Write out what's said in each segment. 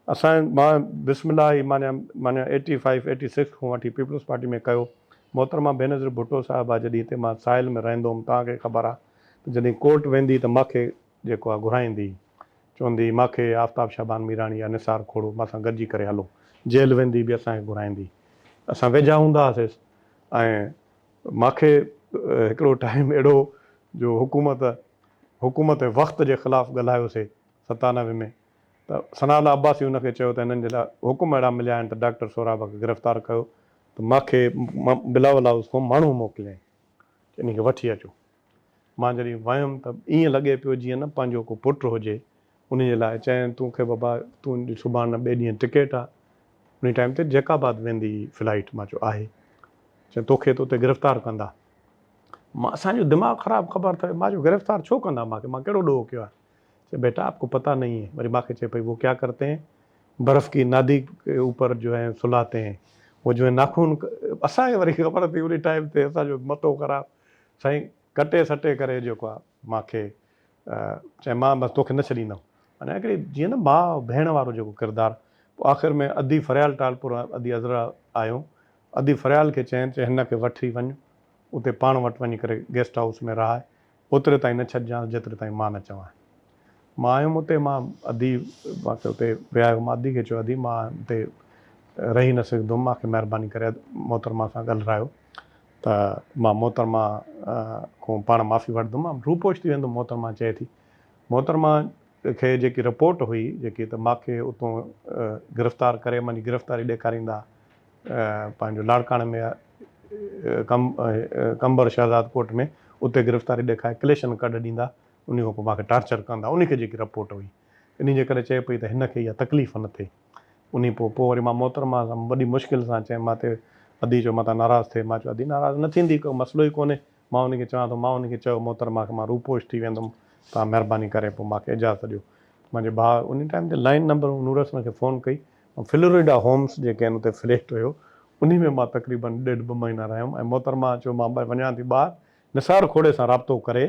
اسان مان بسم الله هي معنيٰ معنيٰ ايٽي فائيو ايٽي سڪس کان وٺي پيپلز پارٽي ۾ ڪيو. محترمه بينظير ڀٽو صاحبه جڏهن هتي مان ساحل ۾ رهندو هوم توهان کي خبر آ ته جڏهن ڪورٽ ويندي ته مان کي جيڪو آ گهرائيندي هي چوندي هي مان کي آفتاب شعبان ميراڻي يا نثار کوڙو مان سان گڏجي ڪري هلو جيل ويندي به اسان کي گهرائيندي هي اسان ويجها هوندا هاسيس ۽ مان کي هڪڙو ٽائيم اهڙو جو حڪومت حڪومت وقت جي خلاف ڳالهايوسي ستانوي ۾ ته ثناء الله عباسي ان کي چيو ته هنن جي لاء حڪم اهڙا مليا آهن ته ڊاڪٽر سهراب کي گرفتار ڪيو ته مان کي بلاول هائوس کان ماڻهو موڪليائين ته ان کي وٺي اچو. مان جڏهن ويم ته ائين لڳي پيو جيئن نه پنهنجو ڪو پٽ هجي. انهي جي لاء چيائين تون کي بابا تون جي سڀاڻ نه ٻئي ڏينهن ٽڪيٽ آ انهي ٽائيم تي جيڪب آباد ويندي فلائيٽ. مان چيو آهي. چيائين توکي ته اتي گرفتار ڪندا. مان اسان جو دماغ خراب خبر اٿئي. مان چيو گرفتار ڇو ڪندا مان کي مان ڪهڙو ڏوهه ڪيو آهي. چيائين بيٽا آپ ڪو پتا نهين هي. وري مان کي چئي پئي وو ڪيا ڪرتي هين برف ڪي نادي ڪي اوپر جو هين سلاهتي هين وو جو هين ناخون اسان کي وري خبر اٿئي انهي ٽائيم تي اسان جو مٿو خراب سائين ڪٽي سٽي ڪري جيڪو آ مان کي چئي مان بس توکي نه ڇڏيندم يعني هڪڙي جيئن نه ماء ڀيڻ وارو جيڪو ڪردار پوء آخر ۾ ادي فريال ٽالپور ادي عذرا آيو ادي فريال کي چين چي هن کي وٺي وڃ اتي پاڻ وٽ وڃي ڪري گيسٽ هائوس ۾ رهائي اوتري تائين نه ڇڏجانس جيتري تائين مان نه چوانء. مان آيم اتي مان ادي مان کي اتي ويهايو مان ادي کي چيو ادي مان اتي رهي نه سگهندم مان کي مهرباني ڪري محترمه سان ڳالهرايو ته مان محترمه کون پاڻ معافي وٺدم مان روپوش ٿي ويندم محترمه چئي ٿي محترمه کي جيڪي رپورٽ هئي جيڪي ته مان کي اتون گرفتار ڪري مان جي گرفتاري ڏيکاريندا پنهنجو لاڙڪاڻي ۾ قمبر شهزاد ڪوٽ ۾ اتي گرفتاري ڏيکاري ڪليشن ڪڍ ڏيندا انهي کان پوء مان کي ٽارچر ڪندا انهي کي جيڪي رپورٽ هئي انهي جي ڪري چئي پئي ته هن کي اها تڪليف نه ٿئي انهي پوء پوء وري مان محترمه سان وڏي مشڪل سان چيم مان تي ادي چيو متان ناراض ٿئي مان چيو ادي ناراض نه ٿيندي ڪو مسئلو ئي ڪونهي مان انهي کي چوان ٿو مان انهي کي چيو محترمه کي مان روپوش ٿي ويندم توهان مهرباني ڪري پوء مان کي اجازت ڏيو منهنجي ڀاء انهي ٽائيم تي لائين نمبر نورحسن کي فون ڪئي ۽ فلوريڊا هومس جيڪي آهن اتي فليٽ هيو انهي ۾ مان تقريبن ڏيڍ ٻه مهينا رهيم ۽ محترمه چيو مان وڃان ٿي ٻاهر نثار کوڙي سان رابطو ڪري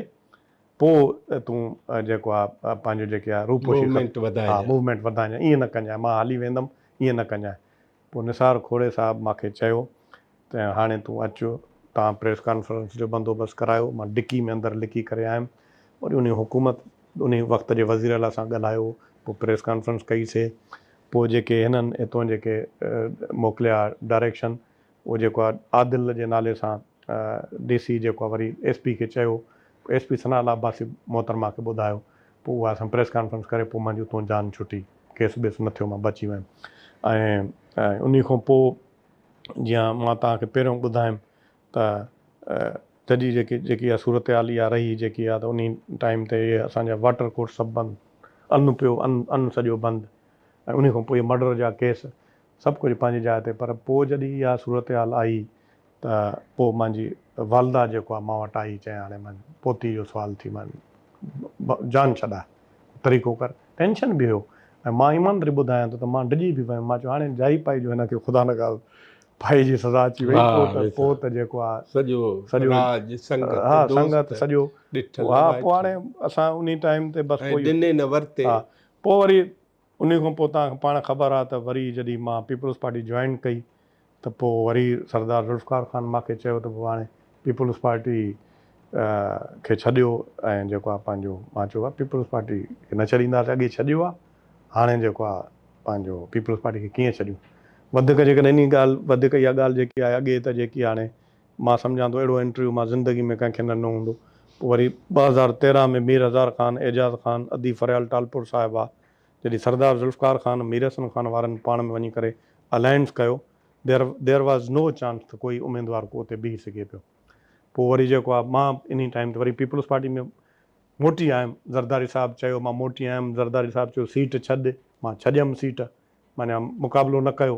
پوء تون جيڪو آ پنهنجو جيڪي آ روپوشي موومينٽ وڌائجان ها موومينٽ وڌائجان ائين نه ڪنجان مان هلي ويندم ائين نه ڪنجان پوء نثار کوڙي صاحب مان کي چيو ته هاڻي تون اچ توهان پريس ڪانفرنس جو بندوبست ڪرايو مان ڊڪي ۾ اندر لڪي ڪري آيم وري انهي حڪومت انهي وقت جي وزير اعليٰ سان ڳالهايو پوء پريس ڪانفرنس ڪئي سي پوء جيڪي هنن هتون جيڪي موڪليا ڊائريڪشن اهو جيڪو آهي عادل جي نالي سان ڊي سي جيڪو آهي وري ايس پي کي چيو SP Sanaullah Abbasi محترمه کي ٻڌايو پوء اها اسان پريس ڪانفرنس ڪري پوء منهنجي اتون جان ڇٽي ڪيس بيس نه ٿيو مان بچي ويم ۽ انهي کان پوء جيئن مان توهان کي پهريون ٻڌايم ته ججي جيڪي جيڪي اها صورتحال اها رهي جيڪي اها ته انهي ٽائيم تي اهي اسان جا واٽر ڪورس سڀ بند ان پيو ان ان سڄو بند ۽ انهي کان پوء اهي مرڊر جا ڪيس سڀ ڪجهه پنهنجي جاء تي پر پوء جڏهن اها صورتحال آئي ته پوء منهنجي والده جيڪو آ مان وٽ آئي چيائين هاڻي مان پوتي جو سوال ٿي مان جان ڇڏاء طريقو ڪر ٽينشن به هيو ۽ مان ايماندري ٻڌايان ٿو ته مان ڊڄي به ويم مان چيو هاڻي جائي پائي جو هن کي خدا نخواست ڦاهي جي سزا اچي وئي پوء ته پوء ته جيڪو آ سڄو سڄو راڄ سنگت ها سنگت سڄو ها پوء هاڻي اسان انهي ٽائيم تي بس پوء ڏني نه ورتي ها پوء وري انهي کان پوء توهان کي پاڻ خبر آهي ته وري جڏهن مان پيپلز پارٽي جوائن ڪئي ته پوء وري سردار ذوالفقار خان مان کي چيو ته پوء هاڻي پيپلز پارٽي کي ڇڏيو ۽ جيڪو آهي پنهنجو مان چيو ڀاء پيپلز پارٽي کي نه ڇڏينداسين اڳي ڇڏيو آهي هاڻي جيڪو آهي پنهنجو پيپلز پارٽي کي ڪيئن ڇڏيون وڌيڪ جيڪڏهن انهي ڳالهه وڌيڪ اها ڳالهه جيڪي آهي اڳي ته جيڪي هاڻي مان سمجهان ٿو اهڙو انٽرويو مان زندگي ۾ ڪنهن کي نه ڏنو هوندو. پوء وري ٻه هزار تيرهن ۾ مير هزار خان، اعجاز خان، ادي فريال ٽالپور صاحب آ جڏهن سردار ذوالفقار خان ۽ مير حسن خان وارن پاڻ ۾ وڃي ڪري الائنس ڪيو there there was no chance ته ڪوئي اميدوار ڪو اتي بيهي سگهي پيو. پوء وري جيڪو آ مان انهي ٽائيم تي وري پيپلز پارٽي ۾ موٽي آيم زرداري صاحب چيو مان موٽي آيم زرداري صاحب چيو سيٽ ڇڏ مان ڇڏيم سيٽ معنيٰ مقابلو نه ڪيو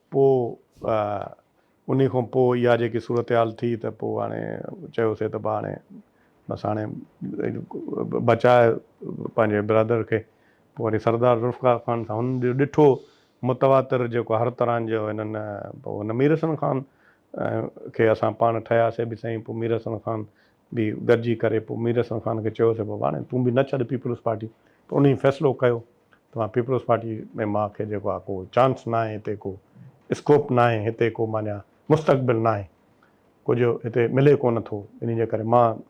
پوء انهي کان پوء اها جيڪي صورتحال ٿي ته پوء هاڻي چيوسي ته هاڻي بس هاڻي بچاء پنهنجي برادر کي پوء وري سردار ذوالفقار خان سان هن جو ڏٺو متواتر جيڪو هر طرحن جو هنن پوء هن ميرحسن خان کي اسان پاڻ ٺهياسي به سهي پوء ميرحسن خان به گڏجي ڪري پوء مير حسن خان کي چيو ته بابا هاڻي تون به نه ڇڏ پيپلز پارٽي ته انهي فيصلو ڪيو ته مان پيپلز پارٽي ۾ مان کي جيڪو آهي ڪو چانس نه آهي هتي ڪو اسڪوپ نه آهي هتي ڪو مانيا مستقبل نه آهي ڪجهه هتي ملي ڪو نه ٿو انهي جي ڪري مان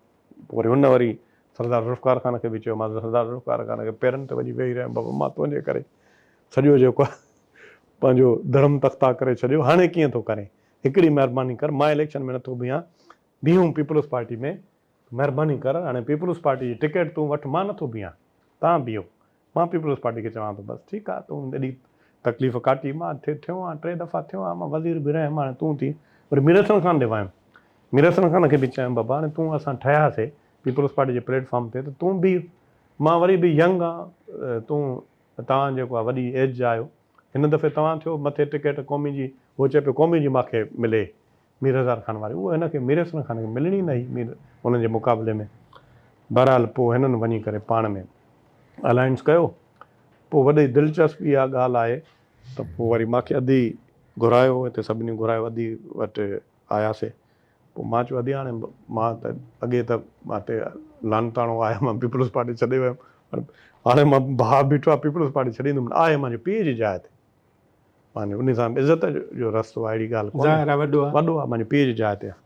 پوء وري هن وري سردار ذوالفقار خان کي به چيو مانس سردار ذوالفقار خان کي پيرن تي وڃي ويهي رهيم بابا مان تنهنجي ڪري سڄو جيڪو آهي پنهنجو ڌرم تختا ڪري ڇڏيو هاڻي ڪيئن ٿو ڪرين هڪڙي مهرباني ڪر مان اليڪشن ۾ نه ٿو بيهان بيهون پيپلز پارٽي ۾ مهرباني ڪر هاڻي پيپلز پارٽي جي ٽڪيٽ تون وٺ مان نٿو بيهان توهان بيهو مان پيپلز پارٽي کي چوان ٿو بس ٺيڪ آ تون ايڏي تڪليف ڪاٽي مان ٿيو آهيان ٽي دفعا ٿيو آهيان مان وزير به رهيم هاڻي تون ٿي وري مير حسن خان ڏي ويم مير حسن خان کي به چيم بابا هاڻي تون اسان ٺهياسي پيپلز پارٽي جي پليٽ فارم تي ته تون بيهه مان وري به ينگ آهيان تون توهان جيڪو آ وڏي ايج جا آهيو هن دفعي توهان ٿيو مٿي ٽڪيٽ قومي جي هو چئي پيو قومي جي ماکي ملي مير هزار خان واري اهو هن کي مير احسن خان کي ملڻي نه هئي مير هن جي مقابلي ۾. بهرحال پوء هنن وڃي ڪري پاڻ ۾ الائنس ڪيو. پوء وڏي دلچسپ اها ڳالهه آهي ته پوء وري مانکي ادي گهرايو هتي سڀني گهرايو ادي وٽ آياسي پوء مان چيو ادي هاڻي مان ته اڳي ته مان تي لعنتاڻو آهي مان پيپلز پارٽي ڇڏي ويم پر هاڻي مان ڀاء بيٺو آهي پيپلز پارٽي ڇڏيندم نه آهي مانجي پيء جي جاء تي معني انهي سان به عزت جو رستو آهي اهڙي ڳالهه ڪونهي. ظاهر آهي وڏو آهي. وڏو آهي معني پيء جي جاء تي آهي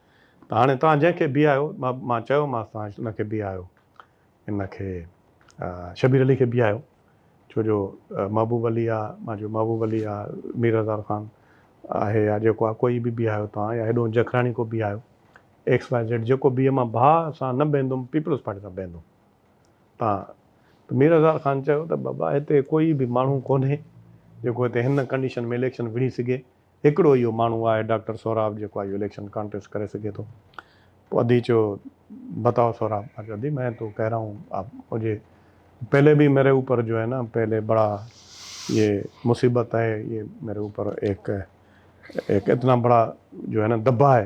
ته هاڻي توهان جنهن کي بيهايو مان چيومانس توهان ان کي بيهايو ان کي شبير علي کي بيهايو ڇو جو محبوب علي آ مان چيو محبوب علي آ مير هزار خان آهي يا جيڪو آهي ڪوئي به بيهايو توهان يا هيڏهون جکراڻي ڪو بيهايو ايڪس واء زيڊ جيڪو بيهي مان ڀاء سان نه بيهندم پيپلز پارٽي سان بيهندم. ها ته مير هزار خان چيو ته بابا هتي ڪوئي به ماڻهو ڪونهي جيڪو هتي هن ڪنڊيشن ۾ اليڪشن وڙهي سگهي هڪڙو اهو ماڻهو آهي ڊاڪٽر سهراب جيڪو آهي اهو اليڪشن ڪانٽيسٽ ڪري سگهي ٿو پوء ادي چيو بتاؤ سهراب مان چيو ادي مين تو ڪهه رها هون آپ مجهي پهلي به ميري اوپر جو هي نا پهلي بڙا يه مصيبت هي يه ميري اوپر ايڪ ايڪ اتنا بڙا جو هي نا دبا هي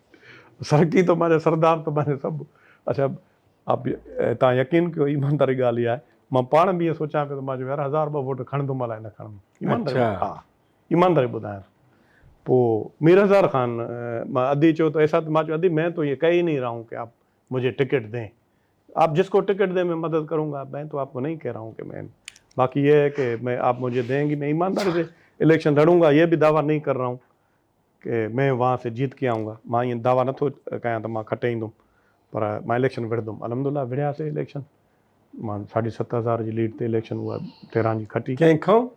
سرڪي تمهاري سردار تمهاري سڀ. اڇا آپ تان يقين ڪيو ايمانداري ڳالهه اها آهي مان پاڻ به اهي سوچيان پيو ته مان چيم يار هزار ٻه ووٽ کڻندم الائي نه کڻندم ايمانداري ها ايمانداري ٻڌايان پو مير هزار خان ادي چيو ته ايسا مان چيو ادي مين تو اهي ڪهي ئي نهي رها هون ڪي آپ مجهي ٽڪيٽ دين آپ جس ڪو ٽڪيٽ دين مين مدد ڪرون گا مين تو آپ ڪو نهي ڪهه رها هون ڪي مين باقي اهي هي ڪي مين آپ مجهي دين گي مين ايمانداري سي اليڪشن لڙون گا اهي به دعويٰ نهي ڪر رها هون ڪي مين وهان سي جيت ڪي آئون گا مان ائين دعويٰ نه ٿو ڪيان ته مان کٽي ايندم پر مان اليڪشن وڙهندم الحمد الله وڙهيا سي اليڪشن مان ساڍي ست هزار جي ليڊ تي اليڪشن اها تهران جي کٽي. ڪنهن کان؟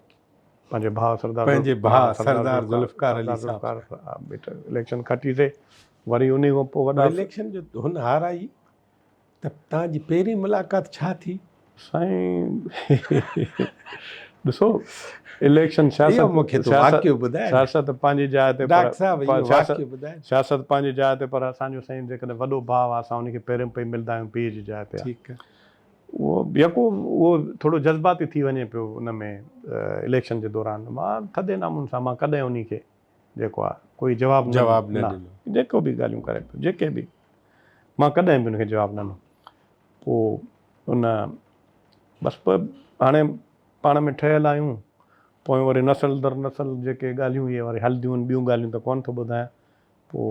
پنهنجي ڀاء سردار پنهنجي ڀاء سردار ذوالفقار علي صاحب سان اليڪشن کٽي سي وري انهي کان پوء وڏا اليڪشن جو هن هارايئي ته توهان جي پهرين ملاقات ڇا ٿي؟ سائين ڏسو اليڪشن سياست پنهنجي جاء تي سياست پنهنجي جاء تي پر اسان جو سائين جيڪڏهن وڏو ڀاء آهي اسان ان کي پهرين پئي ملندا آهيون پيء جي جاء تي اهو يڪو اهو ٿورو جذباتي ٿي وڃي پيو ان ۾ اليڪشن جي دوران مان ٿڌي نامون سان مان ڪڏهن ان کي جيڪو آ ڪوئي جواب نه جواب نه ڏنو جيڪو به ڳالهيون ڪري پيو جيڪي به مان ڪڏهن به ان کي جواب نه ڏنو پو ان بس پو هاڻي پاڻ ۾ ٺهيل آهيون پوء وري نسل در نسل جيڪي ڳالهيون اهي وري هلنديون آهن ٻيون ڳالهيون ته ڪون ٿو ٻڌايان پو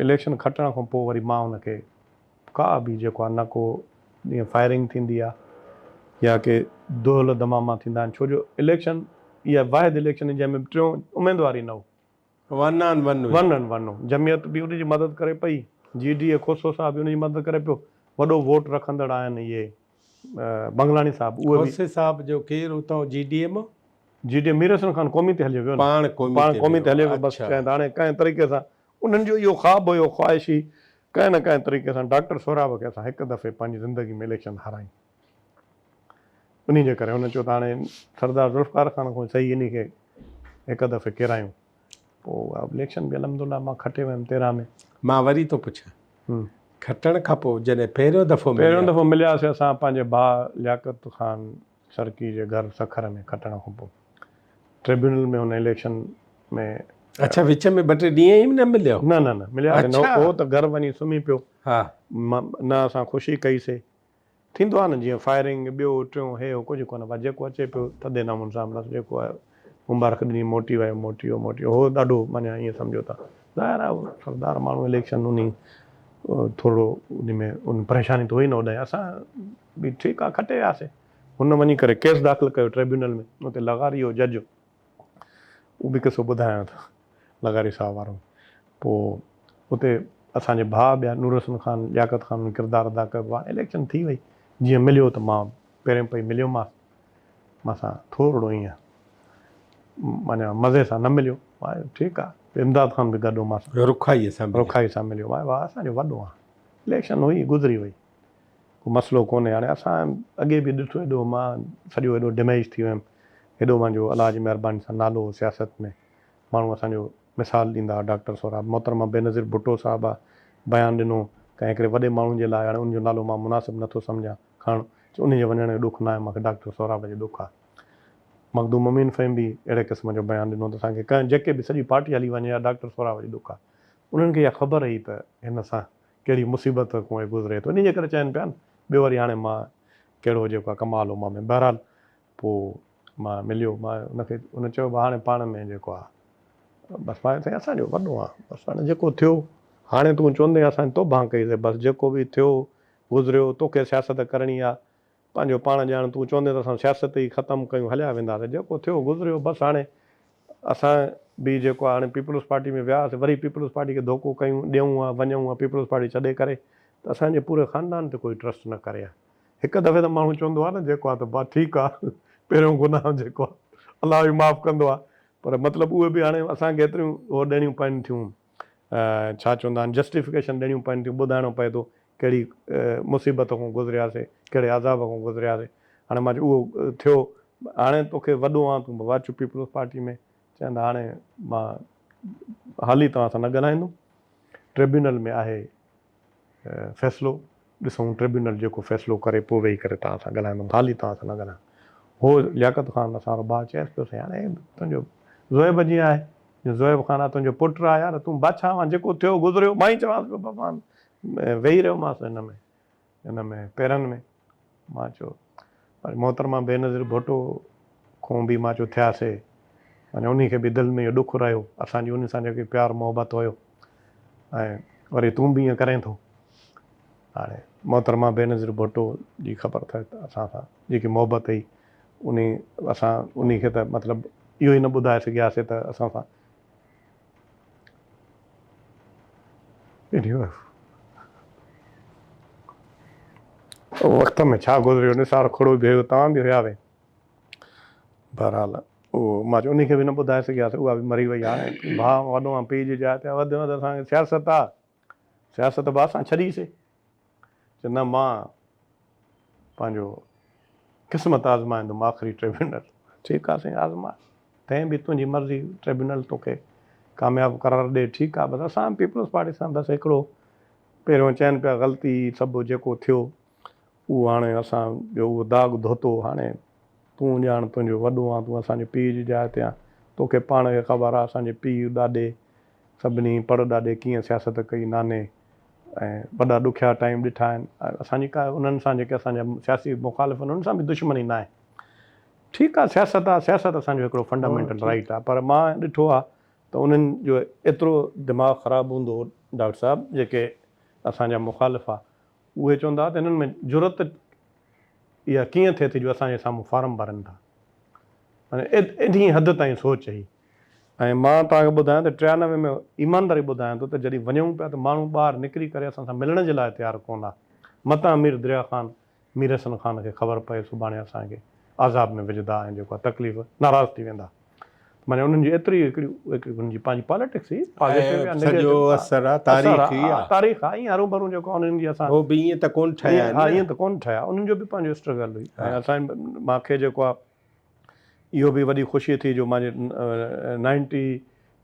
اليڪشن کٽڻ کان پو وري مان ان کي ڪا به جيڪو آهي نه ڪو جيئن فائرنگ ٿيندي آهي يا ڪي دهل دماما ٿيندا آهن ڇو جو اليڪشن اها واحد اليڪشن هئي جنهن ۾ ٽيون اميدوار ئي نه هو. ون آن ون هئي. ون آن ون هو. جمعيت به ان جي مدد ڪري پئي، جي ڊي اي کوسو صاحب به ان جي مدد ڪري پيو. وڏو ووٽ رکندڙ آهن اهي بنگلاڻي صاحب اهي به. کوسي صاحب جو ڪير اتان جي ڊي اي مان؟ جي ڊي اي مير حسن خان قومي تي هليو ويو نه. پاڻ قومي تي هليو ويو. پاڻ قومي تي هليو ويو بس شايد هاڻي ڪنهن طريقي سان انهن جو اهو خواب هيو خواهش هئي ڪنهن نه ڪنهن طريقي سان ڊاڪٽر سهراب کي اسان هڪ دفعي پنهنجي زندگي ۾ اليڪشن هارايون. انهي جي ڪري هن چيو ته هاڻي سردار ذوالفقار خان کان سهي انهي کي هڪ دفعي ڪيرايون. پوء اها اليڪشن به الحمدالله مان کٽي ويم تيرهن ۾. مان وري ٿو پڇان کٽڻ کان پوء جڏهن پهريون دفعو مليا. پهريون دفعو ملياسي اسان پنهنجي ڀاء لياقت خان سرڪي جي گهر سکر ۾ کٽڻ کانپوء ٽربيونل ۾ هن اليڪشن ۾ اڇا وچ ۾ ٻه ٽي ڏينهن ئي نه مليا؟ نه نه نه مليا نه هو ته گهر وڃي سمهي پيو ها نه اسان خوشي ڪئي سي ٿيندو آهي نه جيئن فائرنگ ٻيو ٽيون هي هو ڪجهه ڪونه بس جيڪو اچي پيو ٿڌي نمون سان بس جيڪو آيو مبارڪ ڏني موٽي ويو موٽي ويو موٽي هو ڏاڍو معني ائين سمجهو ته ظاهر آهي هو سردار ماڻهو اليڪشن انهي ٿورڙو انهي ۾ ان پريشاني ته هئي نه هوڏانهن اسان به ٺيڪ آ کٽي وياسين. هن وڃي ڪري ڪيس داخل ڪيو ٽريبيونل ۾ اتي لغاري هو جج اهو به قصو ٻڌايان ٿو لغاري صاحب وارو پوء اتي اسان جي ڀاء ٻيا نورحسن خان لياقت خان انهن ڪردار ادا ڪيو هاڻ اليڪشن ٿي وئي جيئن مليو ته مان پهرين پئي مليو ماس مان سان ٿورڙو ايئن معنيٰ مزي سان نه مليو مان ٺيڪ آ امداد خان به گڏ هو مان سان رکائي سان رکائي سان مليو مان واهه اسان جو وڏو آ اليڪشن هئي گذري وئي. ڪو مسئلو ڪونهي هاڻي اسان اڳي به ڏٺو ايڏو مان سڄو ايڏو ڊميج ٿي ويم ايڏو منهنجو الله جي مهرباني سان نالو هو سياست ۾ ماڻهو اسان جو مثال ڏيندا هئا ڊاڪٽر سهراب محترمه بينظير ڀٽو صاحبه بيان ڏنو ڪنهن هڪڙي وڏي ماڻهو جي لاء هاڻي ان جو نالو مان مناسب نٿو سمجهان کڻڻ چي ان جي وڃڻ جو ڏک ناهي مان کي ڊاڪٽر سهراب جي ڏک آ مخدوم امين فهيم به اهڙي قسم جو بيان ڏنو ته اسان کي ڪنهن جيڪي به سڄي پارٽي هلي وڃي يا ڊاڪٽر سهراب جي ڏک آ انهن کي اها خبر هئي ته هن سان ڪهڙي مصيبت کون هي گذري ٿو انهيء ڪري چين پيا نه ٻيو وري هاڻي مان ڪهڙو جيڪو آهي ڪمال هو مان ۾ بهرحال پوء مان مليو مان ان کي ان چيو به هاڻي پاڻ ۾ جيڪو آهي بس مان سائين اسان جو وڏو آهن بس هاڻي جيڪو ٿيو هاڻي تون چوندين اسان توبهان ڪئي سي بس جيڪو به ٿيو گذريو توکي سياست ڪرڻي آهي پنهنجو پاڻ ڄاڻ تون چوندين ته اسان سياست ئي ختم ڪيون هليا وينداسين جيڪو ٿيو گذريو بس هاڻي اسان به جيڪو هاڻي پيپلز پارٽي ۾ وياسين وري پيپلز پارٽي کي ڌوڪو ڪيون ڏيون ها وڃون ها پيپلز پارٽي ڇڏي ڪري ته اسان جي پوري خاندان تي ڪوئي ٽرسٽ نه ڪري ها هڪ دفعي ته ماڻهو چوندو آهي نه جيڪو آهي ته بس ٺيڪ آهي پهريون گناهه جيڪو آهي الله ئي معاف ڪندو آهي پر مطلب اهي به هاڻي اسان کي ايتريون هو ڏيڻيون پين ٿيون. ڇا چوندا آهن جسٽيفڪيشن ڏيڻيون پون ٿيون ٻڌائڻو پئي ٿو ڪهڙي مصيبت کون گذرياسي ڪهڙي عذاب کون گذرياسي هاڻي مان چيو اهو ٿيو هاڻي توکي وڏو آن تون بوا چپ پيپلز پارٽي ۾ چين ته هاڻي مان هالي توهان سان نه ڳالهائيندم ٽريبيونل ۾ آهي فيصلو ڏسون ٽربيونل جيڪو فيصلو ڪري پوء ويهي ڪري توهان سان ڳالهائيندم خالي توهان سان نه ڳالهايان هو لياقت خان اسان رو ڀاء چيس پيو سيان اهي تنهنجو زوئب جيئن آهي جو زوئب خان آ تنهنجو پٽ آ يار تون بادشاهه وان جيڪو ٿيو گذريو مان ئي چوانس پيو ڀڳوان ويهي رهيومانس هن ۾ هن ۾ پيرن ۾. مان چيو، پر محترمه بينظير ڀٽو کون به مان چيو ٿياسي، معنيٰ انهي کي به دل ۾ اهو ڏک رهيو، اسان جي انهي سان جيڪي پيار محبت هيو ۽ وري تون به ائين ڪرين ٿو. هاڻي محترمه بينظير ڀٽو جي خبر اٿئي ته اسان سان جيڪي محبت هئي، انهي اسان انهي کي ته مطلب اهو ئي نه ٻڌائي سگهياسي ته اسان سان. انهيء وقت ۾ ڇا گذريو، نثار کڙو به هيو، توهان به هياوين. بهرحال اهو مان چيو انهيء کي به نه ٻڌائي سگهياسين، اها به مري وئي. هاڻي ڀاء وڏو مان پيء جي جاء تي وڌ ۾ وڌ اسان کي سياست آ، سياست به اسان ڇڏيسي. چيو نه مان پنهنجو قسمت آزمائيندم آخري ٽربيونل. ٺيڪ آ سائين آزماء تنهن به تنهنجي مرضي ٽربيونل توکي ڪامياب قرار ڏي ٺيڪ آ بس اسان پيپلز پارٽي سان بس هڪڙو پهريون چين پيا غلطي سڀ جيڪو ٿيو اهو هاڻي اسان جو اهو داغ ڌوتو هاڻي تون ڄاڻ تنهنجو وڏو آن تون اسان جي پيء جي جاء تي آن توکي پاڻ کي خبر آ اسان جي پيء ڏاڏي سڀني پڙ ڏاڏي ڪيئن سياست ڪئي ناني ۽ وڏا ڏکيا ٽائيم ڏٺا آهن ۽ اسان جي ڪا انهن سان جيڪي اسان جا سياسي مخالف آهن انهن سان به دشمني ناهي ٺيڪ آهي سياست آهي سياست اسان جو هڪڙو فنڊامينٽل رائيٽ آهي پر مان ڏٺو آهي ته انهن جو ايترو دماغ خراب هوندو هو ڊاڪٽر صاحب جيڪي اسان جا مخالف آهي اهي چوندا ته انهن ۾ جرئت اها ڪيئن ٿئي ٿي جو اسان جي سامهون فارم ڀرن ٿا معنيٰ انهي حد تائين سوچ هئي ۽ مان توهان کي ٻڌايان ته ٽيانوي ۾ ايمانداري ٻڌايان ٿو ته جڏهن وڃون پيا ته ماڻهو ٻاهر نڪري ڪري اسان سان ملڻ جي لاء تيار ڪونه آ متان مير دريا خان مير حسن خان کي خبر پئي سڀاڻي اسان کي عذاب ۾ وجهدا ۽ جيڪو آ تڪليف ناراض ٿي ويندا معني انهن جي ايتري هڪڙي هڪڙي انهن جي پنهنجي پاليٽڪس هي پازيٽو يا نيگيٽو اثر آ تاريخي آ تاريخ آ ائين هرون ڀرون جيڪو آ انهن جي اسان هو به ائين ته ڪونه ٺهيا آهن نه ها ائين ته ڪونه ٺهيا انهن جو به پنهنجو اسٽرگل هئي ۽ اسان مان کي جيڪو آ اهو به وڏي خوشيء ٿي جو مانجي نائنٽي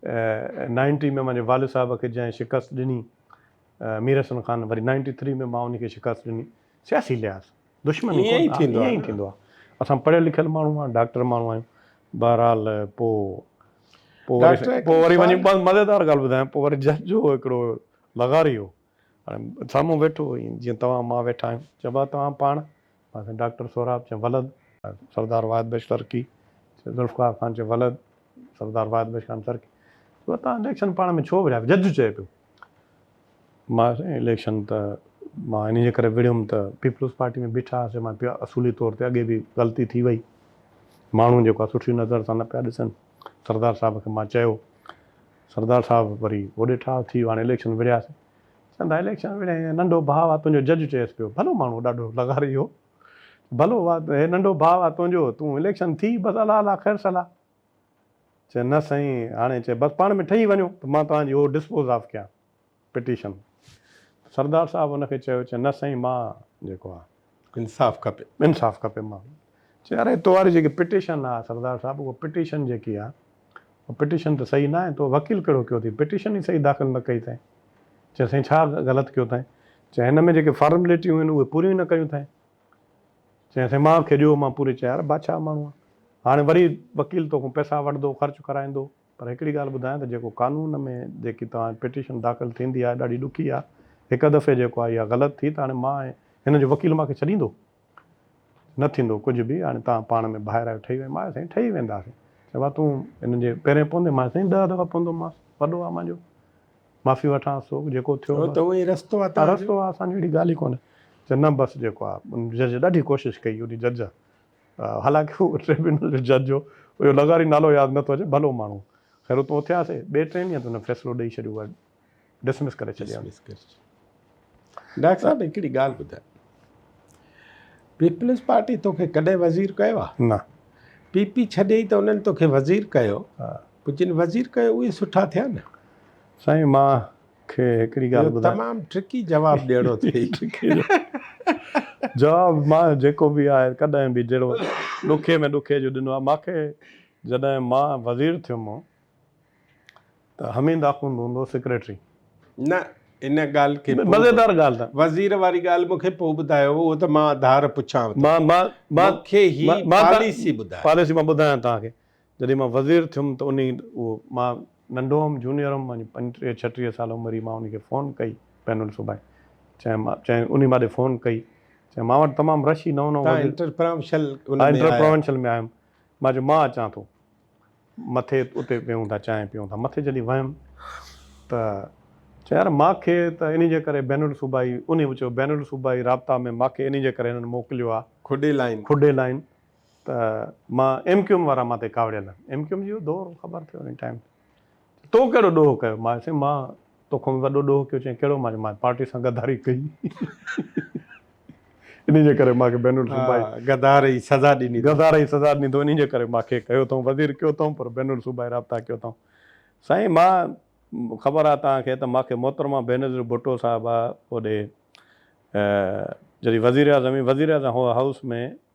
نائنٽي ۾ مانجي والد صاحب کي جنهن شڪست ڏني مير حسن خان وري نائنٽي ٿري ۾ مان ان کي شڪست ڏني سياسي لحاظ دشمني ائين ئي ٿيندو ائين ئي ٿيندو آهي اسان پڙهيل لکيل ماڻهو آهيون ڊاڪٽر ماڻهو آهيون بهرحال پوء پوء وري پوء وري وڃي مزيدار ڳالهه ٻڌايان پوء وري جج جو هڪڙو لغاري هو هاڻي سامهون ويٺو ائين جيئن توهان مان ويٺا آهيون چيو ڀاء توهان پاڻ پاسي ڊاڪٽر سهراب چه ولد. سردار واحد بخش ترڪي چه ذوالفقار خان چه ولد سردار واحد بخش خان ترڪي چه تان اليڪشن پاڻ ۾ ڇو وڙهيا جج چئي پيو مان سائين اليڪشن ته مان انهي جي ڪري وڙهيم ته پيپلز پارٽي ۾ بيٺا هئاسي مان پيو اصولي طور تي اڳي به غلطي ٿي وئي ماڻهو جيڪو آ سٺي نظر سان نه پيا ڏسن سردار صاحب کي مان چيو سردار صاحب وري هوڏي ٺاهه ٿي ويو هاڻي اليڪشن وڙهياسي چوندا اليڪشن وڙهين هي ننڍو ڀاء آ تنهنجو جج چيس پيو ڀلو ماڻهو ڏاڍو لغاري هو ڀلو آ هي ننڍو ڀاء آ تنهنجو تون اليڪشن ٿي بس الله الله خير صلاح چي نه سائين هاڻي چي بس پاڻ ۾ ٺهي وڃو ته مان توهان جي هو ڊسپوز آف ڪيان پٽيشن ته سردار صاحب ان کي چيو چي نه سائين مان جيڪو آ انصاف کپي. انصاف کپي مان چيو يار اي تو واري جيڪي پٽيشن آ سردار صاحب اهو پٽيشن جيڪي آ اهو پٽيشن ته صحيح ناهي تو وڪيل ڪهڙو ڪيو اٿئي پٽيشن ئي صحيح داخل نه ڪئي ٿئين چيو سائين ڇا غلط ڪيو ٿئين چيو هن ۾ جيڪي فارمليٽيون آهن اهي پوريون ئي نه ڪيون ٿئين چيو سائين مان کي ڏيو مان پوري چيو يار بادشاهه ماڻهو آ هاڻي وري وڪيل توکون پئسا وٺندو خرچ ڪرائيندو. پر هڪڙي ڳالهه ٻڌايان ته جيڪو قانون ۾ جيڪي توهان پٽيشن داخل ٿيندي آهي ڏاڍي ڏکي آهي هڪ دفعي جيڪو آهي اها غلط ٿي ته هاڻي مان ۽ هن جو وڪيل مان کي ڇڏيندو؟ نه ٿيندو ڪجهه به هاڻي توهان پاڻ ۾ ڀائر آهيو ٺهي ويندا مان سائين ٺهي وينداسين چيو ڀا تون هن جي پيرين پوندين مان سائين ڏهه دفعا پوندومانس وڏو آهي مانجو معافي وٺانس ٿو جيڪو ٿيو بس اهو ئي رستو آهي رستو آهي اسان جي اهڙي ڳالهه ئي ڪونهي چيو نه بس جيڪو آهي جج ڏاڍي ڪوشش ڪئي انهي جج حالانڪ هو ٽربيونل جو جج هو، اهو لغاري نالو ياد نه ٿو اچي، ڀلو ماڻهو. خير اتون اٿياسين، ٻئي ٽئين ڏينهن تي هن فيصلو ڏئي ڇڏيو هو، ڊسمس ڪري ڇڏيان. ڊسمس ڪري ڇڏيان. ڊاڪٽر صاحب هڪڙي ڳالهه ٻڌاء، پيپلز پارٽي توکي ڪڏهن وزير ڪيو آ؟ نه. پي پي ڇڏيئي ته انهن توکي وزير ڪيو، پوء جن وزير ڪيو اهي سٺا ٿيا نه؟ سائين مان کي هڪڙي ڳالهه ٻڌايان. تمام ٽرڪي جواب ڏيڻو اٿئي. جواب مان جيڪو به آهي ڪڏهن به جهڙو ڏکي ۾ ڏکي جو ڏنو آهي مانکي جڏهن مان وزير ٿيم ته حميد آخوند هوندو سيڪريٽري. نه ان ڳالهه کي مزيدار ڳالهه ته وزير واري ڳالهه مونکي پوء ٻڌايو اهو ته مان آڌار پڇانو ٿو. مان مان مان مونکي هي پاليسي ٻڌايو. پاليسي مان ٻڌايان توهان کي جڏهن مان وزير ٿيم ته انهي اهو مان ننڍو هئم جونيئر هئم مانجي پنجٽيهه ڇهٽيهه سال عمر هئي مان انهي کي فون ڪئي بين الصوبائي چيم مان چيم انهي ماڏي فون ڪئي چيم مان وٽ تمام رش هي نئون نئون وزير تان انٽر پراونشل ان ۾ انٽر آيا. پراونشل ۾ آيم مان چيم مان اچان ٿو مٿي اتي ويهون ٿا چانهه پيئون ٿا مٿي جڏهن ويم ته چيم يار مان کي ته انهي جي ڪري بين الصوبائي انهي به چيو بين الصوبائي رابطا ۾ مان کي انهي جي ڪري هنن موڪليو آ کڏي لائين. کڏي لائين ته مان ايم ڪيو ايم وارا مان تي ڪاوڙيل آهن ايم ڪيو ايم جو دور خبر ٿيو ان ٽائيم تو ڪهڙو ڏوهه ڪيو مان چيس مان تو کان به وڏو ڏوهه ڪيو چيائين ڪهڙو مان چيس مان پارٽي سان غداري ڪئي انهي جي ڪري مان کي بين الصوبائي غدار جي سزا ڏني اٿئون غدار جي سزا ڏني اٿئون انهي جي ڪري مان کي ڪيو اٿئون وزير ڪيو اٿئون پر بين الصوبائي رابطا ڪيو اٿئون سائين مان خبر آهي توهان کي ته مان کي محترمه بينظير ڀٽو صاحبه اوڏي جڏهن وزير اعظم هئي وزير اعظم هئا هائوس ۾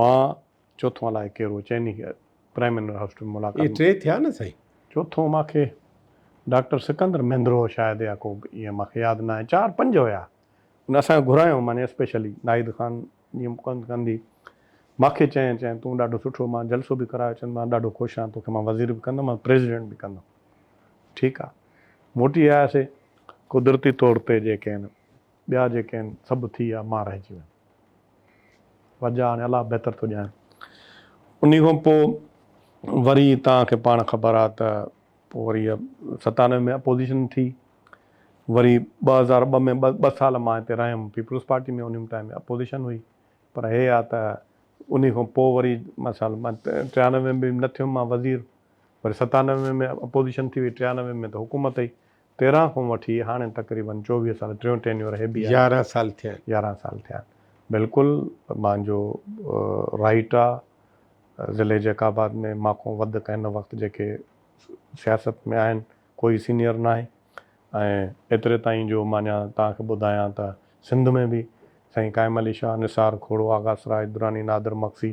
مان چوٿون الائي ڪير هو چئني کي پرائم منر هائوس ۾ ملاقات اهي ٽي ٿيا نه سائين. چوٿون مان کي ڊاڪٽر سڪندر مهندرو هو شايد يا ڪو ائين مان کي ياد ناهي چار پنج هيا ان اسان کي گهرايو معني اسپيشلي ناهيد خان جي مقند ڪندي مان کي چئين چئين تون ڏاڍو سٺو مان جلسو به ڪرايو چئن مان ڏاڍو خوش آهيان توکي مان وزير به ڪندم ۽ پريزيڊنٽ به ڪندم ٺيڪ آهي موٽي آياسي قدرتي طور تي جيڪي آهن ٻيا جيڪي آهن سڀ ٿي ويا مان رهجي ويم. وجا هاڻي الله بهتر ٿو ڄاڻي. انهي کان پوء وري توهان کي پاڻ خبر آهي ته پوء وري ستانوي ۾ اپوزيشن ٿي، وري ٻه هزار ٻه ۾ ٻه سال مان هتي رهيم پيپلز پارٽي ۾ انهي ٽائيم اپوزيشن هئي پر هي آهي ته انهي کان پوء وري مان سال مان ٽيانوي ۾ به نه ٿيم مان وزير وري ستانوي ۾ اپوزيشن ٿي وئي ٽيانوي ۾ ته حڪومت هئي تيرهن کان وٺي هاڻي تقريبن چوويهه سال ٽيون ٽينيور هي بي آهي. يارهن سال ٿيا آهن. يارهن سال ٿيا آهن بلڪل مانجو رائٽ آ ضلعي جيڪب آباد ۾ مانکون وڌ ڪنهن هن وقت جيڪي سياست ۾ آهن ڪوئي سينيئر ناهي ۽ ايتري تائين جو مان اڃان توهان کي ٻڌايان ته سنڌ ۾ به سائين قائم علي شاهه نثار کوڙو آغا سراج دراني نادر مگسي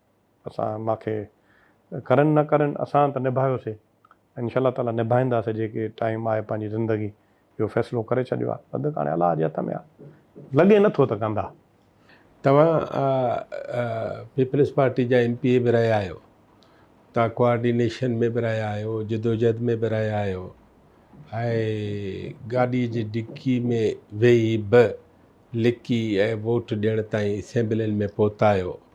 اسان ماکي ڪرن نه ڪرن اسان ته نڀايوسي ۽ انشاء الله تعالي نڀائينداسي جيڪي ٽائيم آهي پنهنجي زندگي جو فيصلو ڪري ڇڏيو آهي بدڪ هاڻي الله جي هٿ ۾ آهي لڳي نه ٿو ته ڪندا. توهان پيپلزپارٽي جا ايم پي اي به رهيا آهيو توهان ڪوآرڊينيشن ۾ به رهيا آهيو جدوجهد ۾ به رهيا آهيو ۽ گاڏي جي ڊڪي ۾ ويهي به لڪي ۽ ووٽ ڏيڻ تائين اسيمبلين ۾ پهتا آهيو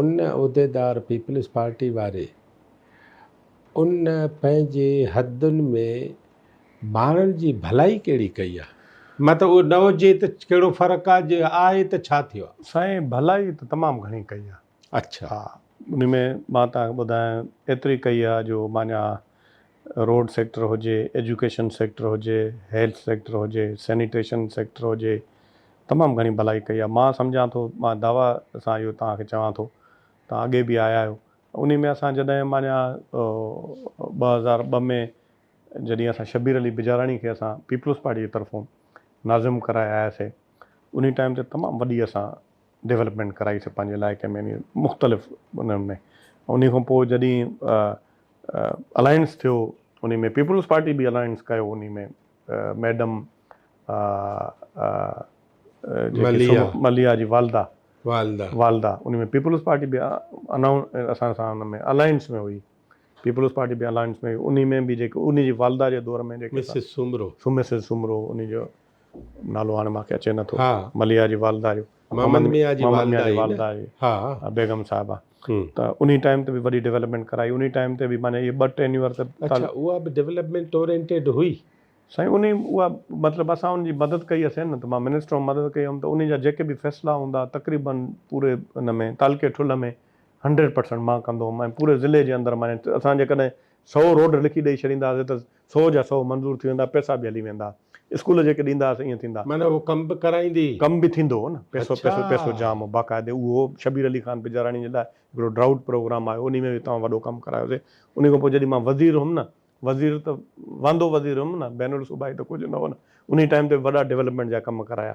ان عهديدار پيپلز پارٽي واري ان پنهنجي حدن ۾ ماڻهن جي ڀلائي ڪهڙي ڪئي آ؟ مان ته اهو نه هجي ته ڪهڙو فرق آ جي آهي ته ڇا ٿيو آ؟ سائين ڀلائي ته تمام گهڻي ڪئي آ. اڇا. ان ۾ مان توهان کي ٻڌايان ايتري ڪئي آ جو مانيان روڊ سيڪٽر هجي، ايجوڪيشن سيڪٽر هجي، هيلٿ سيڪٽر هجي، سينيٽيشن سيڪٽر هجي، تمام گهڻي ڀلائي ڪئي آهي. مان سمجهان ٿو، مان دعويٰ سان اهو توهان کي چوان ٿو، توهان اڳي به آيا آهيو، انهي ۾ اسان جڏهن مانيٰ ٻه هزار ٻه ۾ جڏهن اسان شبير علي بجاراڻي کي اسان پيپلز پارٽي جي طرفون ناظم ڪرائي آياسي، انهي ٽائيم تي تمام وڏي اسان. ڊولپمينٽ ڪرائي سي پنهنجي علائقي ۾ يعني مختلف انهن ۾ انهي کان پوء جڏهين الائنس ٿيو انهي ۾ پيپلز پارٽي به الائنس ڪيو انهي ۾ ميڊم مليا مليا جي والده والده والده انهي ۾ پيپلز پارٽي به اسان سان ان ۾ الائنس ۾ هئي پيپلز پارٽي به الائنس ۾ هئي انهي ۾ به جيڪي انهي جي والده جي دور ۾ جيڪي مسز سومرو مسز سومرو انهي جو نالو هاڻي مانکي اچي نه ٿو. مليحه جي والده جو. محمد ميان جي والده آهي نه. بيگم صاحبه. ته انهي ٽائيم تي به وڏي ڊيولپمينٽ ڪرائي. انهي ٽائيم تي به معنيٰ اهي ٻه ٽينيوئر ته. اڇا اها به ڊيولپمينٽ اورينٽيڊ هئي. سائين انهي اها مطلب اسان ان جي مدد ڪئي هيسين نه ته مان منسٽر هوم مدد ڪئي هيم ته انهي جا جيڪي به فيصلا هوندا تقريباً پوري ان ۾ تعلقي ٺلهه ۾ هنڊريڊ پرسنٽ مان ڪندو هوم ۽ پوري ضلعي جي اندر معنيٰ اسان جيڪڏهن سئو روڊ لکي ڏئي ڇڏيندا هاسين ته سو جا سو منظور ٿي ويندا پئسا به هلي ويندا اسڪول جيڪي ڏيندا هئس ائين ٿيندا. معنيٰ هوء ڪم به ڪرائيندي. ڪم به ٿيندو هو نه پئسو پئسو پئسو اڇا. جام هو باقاعدي اهو شبير علي خان پجاراڻي جي لاء هڪڙو ڊرائوٽ پروگرام آيو انهي ۾ به تمام وڏو ڪم ڪرايوسي انهي کان پوء جڏهن مان وزير هيم نه وزير ته واندو وزير هيم نه بين الصوبائي ته ڪجهه نه هو نه انهي ٽائيم تي به وڏا ڊولپمينٽ جا ڪم ڪرايا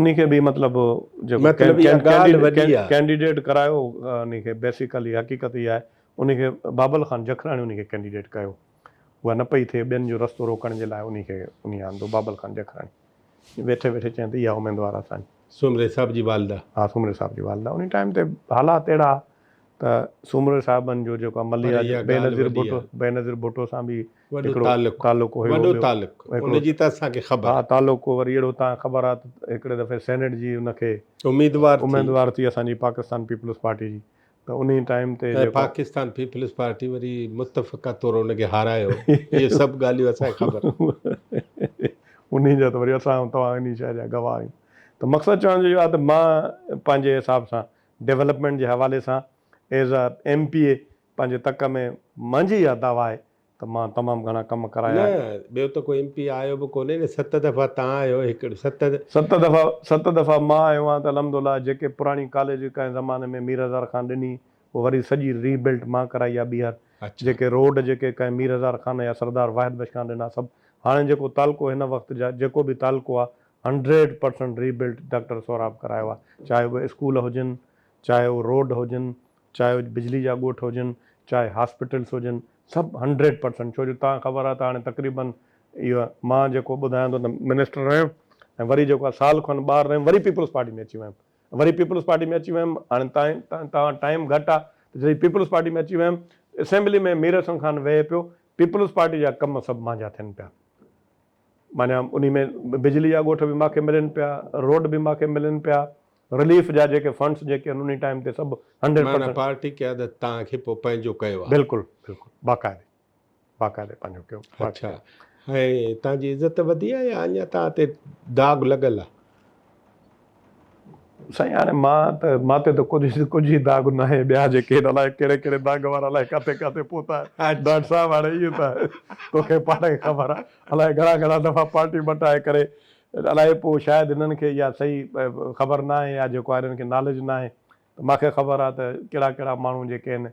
انهي کي به مطلب جيڪو ڪينڊيڊيٽ ڪرايو انهي کي بيسيڪلي حقيقت اها آهي انهي کي بابل خان جکراڻي انهي کي ڪينڊيڊيٽ ڪيو اها نه پئي ٿئي ٻين جو رستو روڪڻ جي لاء انهي کي انهي آندو بابل خان جکراڻي ويٺي ويٺي چين ته اها اميدوار اسان سومري صاحب جي والده ها سومري صاحب جي والده انهي ٽائيم تي حالات اهڙا ته سومري صاحبن جو جيڪو مليا بينظير ڀٽو بينظير ڀٽو سان به وڏو تعلق تعلق هيو وڏو تعلق ان جي ته اسان کي خبر ها تعلق هو وري اهڙو تان خبر آ ته هڪڙي دفعي سينيٽ جي ان کي اميدوار ٿي اميدوار ٿي اسان جي پاڪستان پيپلز پارٽي جي ته انهي ٽائيم تي جيڪو پاڪستان پيپلز پارٽي وري متفقه طور ان کي هارايو اهي سڀ ڳالهيون اسان کي خبر انهي جا ته وري اسان توهان انهي شئي جا گواهه آهيون ته مقصد چوڻ جو اهو آ ته مان پنهنجي حساب سان ڊيولپمينٽ جي حوالي سان as a M P A پنهنجي تڪ ۾ منهنجي اها دعويٰ آهي ته مان تمام گهڻا ڪم ڪرايا نه، آهن. ٻيو ته ڪو ايم پي آيو به ڪونهي نه ست دفعا تان آهيو هڪڙي ست. ست دفعا ست دفعا مان آيو آهيان ته الحمد الله جيڪي پراڻي ڪاليج ڪنهن زماني ۾ مير هزار خان ڏني اها وري سڄي ري بلٽ مان ڪرائي آهي ٻيهر اڇا. جيڪي روڊ جيڪي ڪنهن مير هزار خان يا سردار واحد بخش خان ڏنا سڀ هاڻي جيڪو تعلقو هن وقت جا جيڪو به تعلقو آهي hundred percent rebuilt doctor Sohrab ڪرايو آهي چاهي اهي اسڪول هجن چاهي اهي روڊ هجن چاهي اڄ بجلي جا ڳوٺ هجن، چاهي هاسپيٽلس هجن، سڀ هنڊريڊ پرسنٽ ڇو جو تان خبر آهي ته هاڻي تقريبن اهو مان جيڪو ٻڌايان ٿو ته منسٽر رهيم ۽ وري جيڪو آهي سال کن ٻاهر رهيم وري پيپلز پارٽي ۾ اچي ويم وري پيپلز پارٽي ۾ اچي ويم هاڻي تائين تان تان وٽ ٽائيم گهٽ آهي ته جڏهن پيپلز پارٽي ۾ اچي ويم اسيمبلي ۾ مير حسن خان ويهي پيو پيپلز پارٽي جا ڪم سڀ مانجا ٿين پيا معنيٰ انهي ۾ بجلي جا ڳوٺ به ماکي ملين پيا روڊ به ماکي ملين پيا رليف جا جيڪي فنڊس جيڪي آهن انهي ٽائيم تي سڀ هنڊريڊ پرسينٽ. معنيٰ پارٽي قيادت توهان کي پوء پنهنجو ڪيو آهي. بلڪل بلڪل باقاعدي باقاعدي پنهنجو ڪيو. اڇا ۽ توهان جي عزت وڌي آهي يا اڃا توهان تي داغ لڳل آهي. سائين هاڻي مان ته مان تي ته ڪجهه ڪجهه ئي داغ ناهي ٻيا جيڪي آهن الاء ڪهڙي ڪهڙي داغ وارا الاء ڪاٿي ڪاٿي پهتا آهن ڊاٽ صاحب هاڻي اهي ته توکي پاڻ کي خبر آهي الاء گهڻا گهڻا دفعا پارٽي مٽائي ڪري الائي پوء شايد هنن کي اها صحيح خبر نه آهي يا جيڪو آهي هنن کي ناليج نه آهي ته ماکي خبر آهي ته ڪهڙا ڪهڙا ماڻهو جيڪي آهن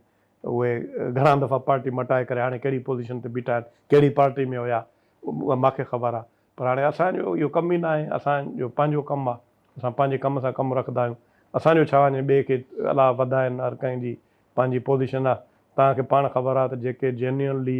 اهي گهڻا دفعا پارٽي مٽائي ڪري هاڻي ڪهڙي پوزيشن تي بيٺا آهن ڪهڙي پارٽي ۾ هيا اها ماکي خبر آهي پر هاڻي اسان جو اهو ڪم ئي نه آهي اسان جو پنهنجو ڪم آهي اسان پنهنجي ڪم سان ڪم رکندا آهيون اسان جو ڇا وڃي ٻئي کي الاء وڌائين هر ڪنهن جي پنهنجي پوزيشن آهي توهان کي پاڻ خبر آهي ته جيڪي جينيونلي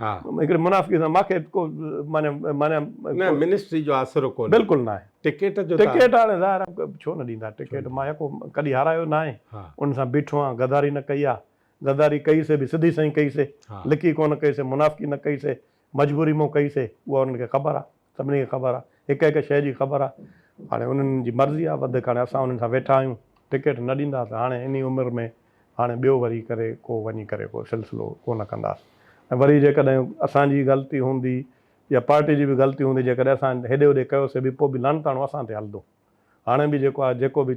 هڪڙي منافقي سان ماکي ڪو معنيٰ معنيٰ نه منسٽري جو آسرو ڪونهي بلڪل ناهي ٽڪيٽ جو ٽڪيٽ هاڻي ظاهر آهي ڇو نه ڏيندا ٽڪيٽ مان يڪو ڪڏهن هارايو ناهي ان سان بيٺو آهيان غداري نه ڪئي آهي غداري ڪئي سي به سڌي سئي ڪئي سي لڪي ڪونه ڪئي سي منافقي نه ڪئي سي مجبوري مون ڪئي سي اها انهن کي خبر آهي. سڀني کي خبر آ هڪ هڪ شئي جي خبر آ هاڻي انهن جي مرضي آ وڌيڪ هاڻي اسان انهن سان ويٺا آهيون ٽڪيٽ نه ڏيندا ته هاڻي انهي عمر ۾ هاڻي ٻيو وري ڪري ڪو وڃي ڪري ڪو سلسلو ڪو نه ڪنداس ۽ وري جيڪڏهن اسان جي غلطي هوندي يا پارٽي جي به غلطي هوندي جيڪڏهن اسان هيڏي هوڏي ڪيوسي به پوء به لعنتاڻو اسان تي هلندو هاڻي به جيڪو آ جيڪو به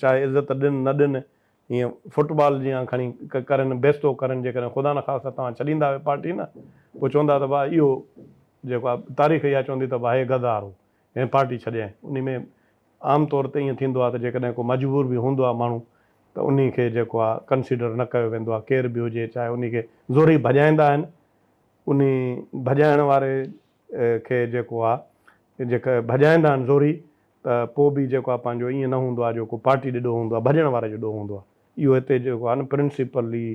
چاهي عزت ڏين نه ڏين ايئن فٽ بال جيان کڻي ڪرن بيستو ڪرن جيڪڏهن خدا نخواسته توهان ڇڏيندا اهي پارٽي نه پوء چوندا ته ڀاء اهو جيڪو آهي تاريخ اها چوندي ته ڀائي غدار هو هن پارٽي ڇڏيائين انهي ۾ عام طور تي ايئن ٿيندو آهي ته جيڪڏهن ڪو مجبور به هوندو آهي ماڻهو ته انهي کي جيڪو آهي ڪنسيڊر نه ڪيو ويندو آهي ڪير به هجي چاهي انهي کي زورئي ڀڄائيندا آهن انهي ڀڄائڻ واري کي جيڪو آ جيڪا ڀڄائيندا آهن زوري ته پوء به جيڪو آ پنهنجو ايئن نه هوندو آ جو ڪو پارٽي ڏي ڏوهه هوندو آ ڀڄڻ واري جو ڏوهه هوندو آ اهو هتي جيڪو آ نه پرنسپلي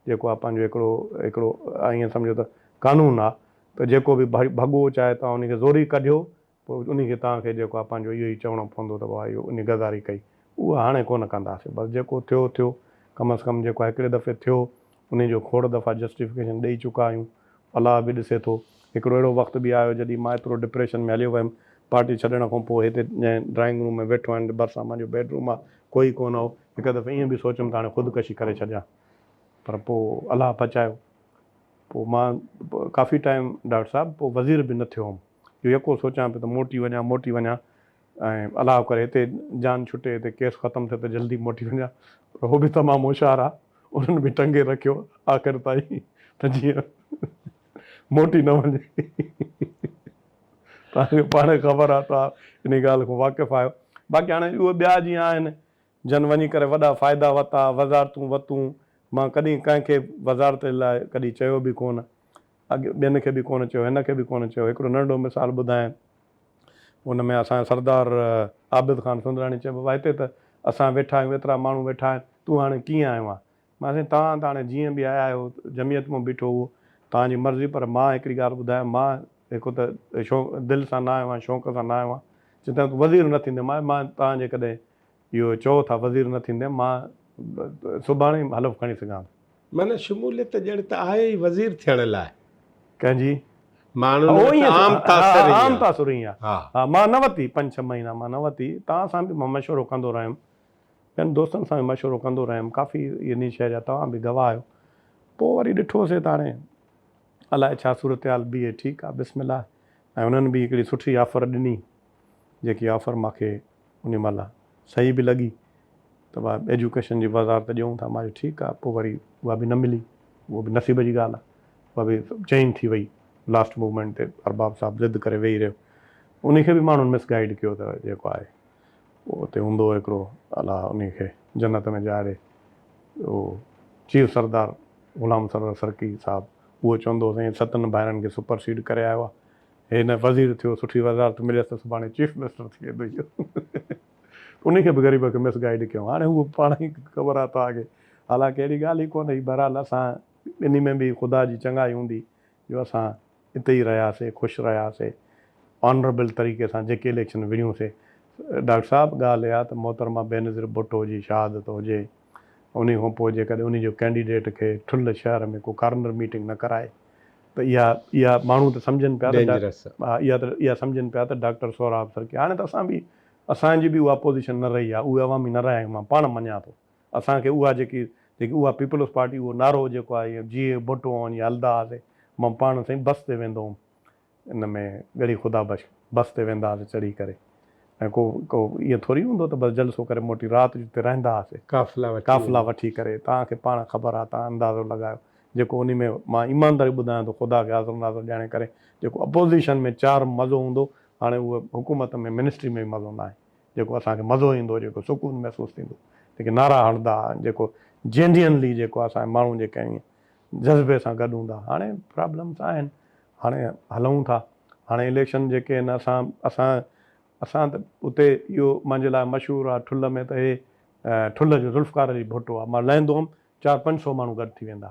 جيڪو آ پنهنجو هڪڙو هڪڙو ايئن سمجهو ته قانون آ ته جيڪو به ڀڳو چاهي توهان ان کي زوري ڪڍيو پوء ان کي توهان کي جيڪو آ پنهنجو اهو ئي چوڻو پوندو ته ڀاء اهو ان غداري ڪئي اها هاڻي ڪونه ڪنداسين بس جيڪو ٿيو ٿيو ڪم از ڪم جيڪو آ هڪڙي دفعي ٿيو انهي جو کوڙ دفعا جسٽيفڪيشن ڏئي چڪا آهيون، الله به ڏسي ٿو. هڪڙو اهڙو وقت به آيو جڏهن مان ايترو ڊپريشن ۾ هليو ويم، پارٽي ڇڏڻ کان پوء هتي جنهن ڊرائنگ روم ۾ ويٺو آهيان ڀرسان منهنجو بيڊ روم آهي، ڪوئي ڪونه هو، هڪ دفعي ائين به سوچيم ته هاڻي خودڪشي ڪري ڇڏيان پر پوء الله بچايو، پوء مان ڪافي ٽائيم ڊاڪٽر صاحب پوء وزير به نه ٿيو هوم، اهو يڪو سوچيان پيو ته موٽي وڃان، موٽي وڃان، ۽ الله ڪري هتي جان ڇٽي هتي ڪيس ختم ٿئي ته جلدي موٽي وڃان پر هو به تمام هوشيار آ انهن به ٽنگي رکيو آخر تائين ته جيئن موٽي نه وڃي توهان کي پاڻ خبر آ توهان انهي ڳالهه کان واقف آهيو باقي هاڻي اهي ٻيا جيئن آهن جن وڃي ڪري وڏا فائدا وتا، وزارتون وتون، مان ڪڏهن ڪنهن کي وزارت لاء ڪڏهن چيو به ڪونه، اڳ ٻين کي به ڪونه چيو، هن کي به ڪونه چيو، هڪڙو ننڍڙو مثال ٻڌاين، ان ۾ اسان جو سردار عابد خان سندراڻي چيو بابا هتي ته اسان ويٺا آهيون، ايترا ماڻهو ويٺا آهن، تون هاڻي ڪيئن آيو آهين، مان سائين توهان ته هاڻي جيئن به آيا آهيو جمعيت مون بيٺو اهو توهان جي مرضي پر مان هڪڙي ڳالهه ٻڌايم مان هڪ ته شوق دل سان نه آيو آهيان شوق سان نه آيو آهيان جي توهان وزير نه ٿيندين مان مان توهان جيڪڏهن اهو چئو ٿا وزير نه ٿيندين مان سڀاڻي حلف کڻي سگهان ٿو. معنيٰ شموليت ڄڻ ته آهي ئي وزير ٿيڻ لاء. ڪنهن جي؟ ماڻهن وٽ عام تاثر ائين آهي. عام تاثر ائين آهي. ها مان نه ورتي پنج ڇهه مهينا مان نه ورتي توهان سان به مان مشورو ڪندو رهيم ٻين دوستن سان به مشورو ڪندو رهيم. ڪافي يني شيء جا توهان به گواهه آهيو. پوء وري ڏٺو سي ته هاڻي الائي ڇا صورتحال بيهي ٺيڪ آ بسم الله ۽ انهن به هڪڙي سٺي آفر ڏني جيڪي آفر مان کي انهي مهل صحيح به لڳي ته اها ايجوڪيشن جي وزارت ڏيئون ٿا مان چيو ٺيڪ آ پوء وري اها به نه ملي اهو به نصيب جي ڳالهه آ اها به چينج ٿي وئي لاسٽ موومينٽ تي ارباب صاحب ضد ڪري ويهي رهيو انهي کي به ماڻهن مس گائيڊ ڪيو ته جيڪو آهي پوء اتي هوندو هڪڙو الله انهي کي جنت ۾ جاء ڏي اهو چيف سردار غلام سرور سرڪي صاحب اهو چوندو سائين ستن ڀائرن کي سپر سيڊ ڪري آيو آ هي نه وزير ٿيو سٺي وزارت مليس ته سڀاڻي چيف منسٽر ٿي ويندو اهو انهي کي به غريب کي مس گائيڊ ڪيو هاڻي هو پاڻ ئي خبر آ توهان کي حالانڪه اهڙي ڳالهه ئي ڪونهي بهرحال اسان ٻنهي ۾ به خدا جي چڱائي هوندي جو اسان اتي ئي رهياسي خوش رهياسي آنربل طريقي سان جيڪي اليڪشن وڙهيون سي ڊاڪٽر صاحب ڳالهه اها ته محترمه بينظير ڀٽو جي شهادت هجي انهي کان پوء جيڪڏهن انهي جو ڪينڊيڊيٽ کي ٺل شهر ۾ ڪو ڪارنر ميٽنگ نه ڪرائي ته اها اها ماڻهو ته سمجهن پيا ته اها ته اها سمجهن پيا ته ڊاڪٽر سهراب سرڪي هاڻي ته اسان به اسان جي به اها پوزيشن نه رهي آهي اهي عوامي نه رهيا آهيون مان پاڻ مڃان ٿو. اسان کي اها جيڪي جيڪي اها پيپلز پارٽي اهو نعرو جيڪو آهي اهو جي اهي ڀٽو هون جي هلدا هئاسي مان پاڻ سائين بس تي ويندو هوم ان ۾ ڳڙهي خدا بخش بس تي ويندا هئاسي چڙهي ڪري ۽ ڪو ڪو ائين ٿوري هوندو ته بس جلسو ڪري موٽي رات جو اتي رهندا هئاسي قافلا وٺي قافلا وٺي ڪري توهان کي پاڻ خبر آهي توهان اندازو لڳايو جيڪو انهي ۾ مان ايمانداري ٻڌايان ٿو خدا کي حاضر ناظر ڄاڻي ڪري جيڪو اپوزيشن ۾ چار مزو هوندو هاڻي اهو حڪومت ۾ منسٽري ۾ به مزو ناهي جيڪو اسان کي مزو ايندو، جيڪو سڪون محسوس ٿيندو، جيڪي نعرا هڻدا، جيڪو جينيئنلي جيڪو اسان جي ماڻهو جيڪي ائين جذبي سان گڏ هوندا. هاڻي پرابلمس آهن، هاڻي هلون ٿا، هاڻي اليڪشن جيڪي آهن اسان اسان اسان ته اتي اهو منهنجي لاء مشهور آهي ٺل ۾ ته هي ٺل جو ذوالفقار علي ڀٽو آهي، مان لهندو هوم چار پنج سئو ماڻهو گڏ ٿي ويندا.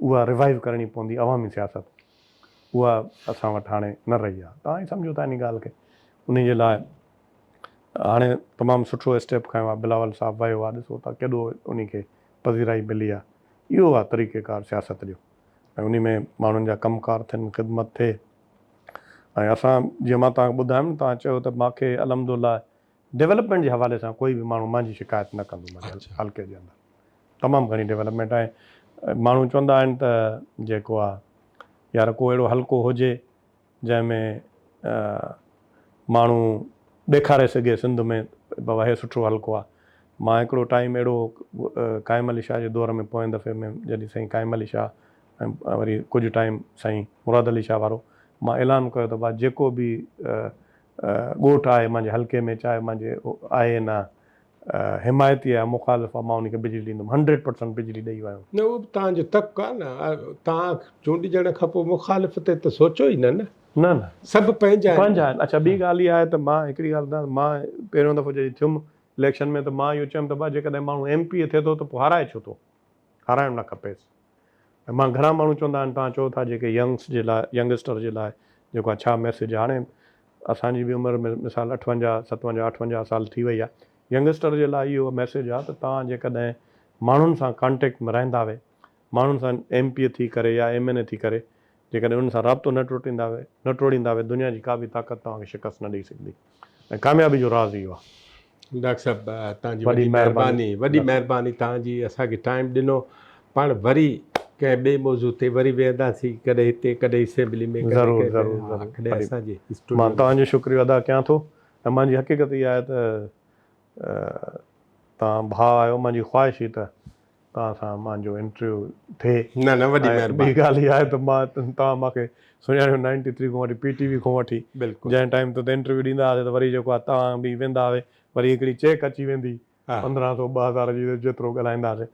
اها ريوائيو ڪرڻي پوندي عوامي سياست اها اسان وٽ هاڻي نه رهي آهي توهان ئي سمجهو ٿا ان ڳالهه کي انهي جي لاء هاڻي تمام سٺو اسٽيپ کنيو آهي بلاول صاحب ويو آهي ڏسو ٿا ڪيڏو انهي کي پذيرائي ملي آهي اهو آهي طريقي ڪار سياست جو ۽ انهي ۾ ماڻهن جا ڪم ڪار ٿين خدمت ٿئي ۽ اسان جيئن مان توهان کي ٻڌايم نه توهان چيو ته ماکي الحمدالله ڊولپمينٽ جي حوالي سان ڪوئي به ماڻهو مانجي شڪايت نه ڪندو منهنجي حلقي جي اندر تمام گهڻي ڊولپمينٽ آهي ماڻهو چوندا آهن ته جيڪو آهي يار ڪو اهڙو حلقو هجي جنهن ۾ ماڻهو ڏيکاري سگهي سنڌ ۾ بابا هي سٺو حلقو آهي مان هڪڙو ٽائيم اهڙو قائم علي شاهه جي دور ۾ پوئين دفعي ۾ جڏهن سائين قائم علي شاهه ۽ وري ڪجهه ٽائيم سائين مراد علي شاهه وارو مان اعلان ڪيو ته با جيڪو به ڳوٺ آهي مانجي حلقي ۾ چاهي مانجي آهي يا نه حمايتي آهي يا مخالف آهي مان انهي کي بجلي ڏيندم هنڊريڊ پرسنٽ بجلي ڏئي ويم. نه اهو به توهان جو تڪ آهي نه توهان چونڊجڻ کان پوء مخالف تي ته سوچو ئي نه نه. نه نه سڀ پنهنجا آهن. پنهنجا آهن اڇا ٻي ڳالهه اها آهي ته مان هڪڙي ڳالهه ٻڌايان مان پهريون دفعو جڏهن ٿيم اليڪشن ۾ ته مان اهو چيم ته ڀاء جيڪڏهن ماڻهو ايم پي اي ٿئي ٿو ته پوء هارائي ڇو ٿو هارائڻ نه کپيس. ۽ مان گهڻا ماڻهو چوندا آهن توهان چئو ٿا جيڪي ينگس جي لاء ينگسٽر جي لاء جيڪو آهي ڇا ميسيج هاڻي اسان جي به عمر مثال اٺونجاهه ستونجاهه اٺونجاهه سال ٿي وئي آهي ينگسٽر جي لاء اهو ميسيج آهي ته توهان جيڪڏهن ماڻهن سان ڪانٽيڪٽ ۾ رهندا وي ماڻهن سان ايم پي ٿي ڪري يا ايم اين اي ٿي ڪري جيڪڏهن انهن سان رابطو نه نه ٽوڙيندا وي دنيا جي ڪا به طاقت توهان کي شڪست نه ڏئي سگهندي ۽ ڪاميابي جو راز اهو آهي. ڊاڪٽر صاحب توهان جي وڏي مهرباني وڏي مهرباني توهان جي اسان کي ٽائيم ڏنو پاڻ وري ڪنهن ٻئي موضوع تي وري ويهنداسين ڪڏهن هتي ڪڏهن اسيمبلي ۾ ضرور ضرور مان توهان جو شڪريو ادا ڪيان ٿو ۽ مانجي حقيقت اها آهي ته توهان ڀاء آهيو مانجي خواهش هئي ته توهان سان مانجو انٽرويو ٿئي نه نه وڏي مهرباني ۽ ٻي ڳالهه هي آهي ته مان توهان مانکي سڃاڻيو نائنٽي ٿري کان وٺي پي ٽي وي کان وٺي جنهن ٽائيم تي انٽرويو ڏيندا هئاسي ته وري جيڪو آهي توهان به ويندا هئي وري هڪڙي چيڪ اچي ويندي پندرهن سو ٻه هزار جي جيترو ڳالهائيندا سي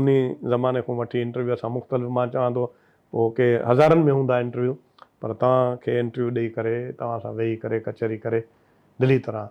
انهي زماني کان وٺي انٽرويو اسان مختلف مان چوان ٿو پوء ڪي هزارن ۾ هوندا انٽرويو پر توهان کي انٽرويو ڏئي ڪري توهان سان ويهي ڪري ڪچهري ڪري دلي طرح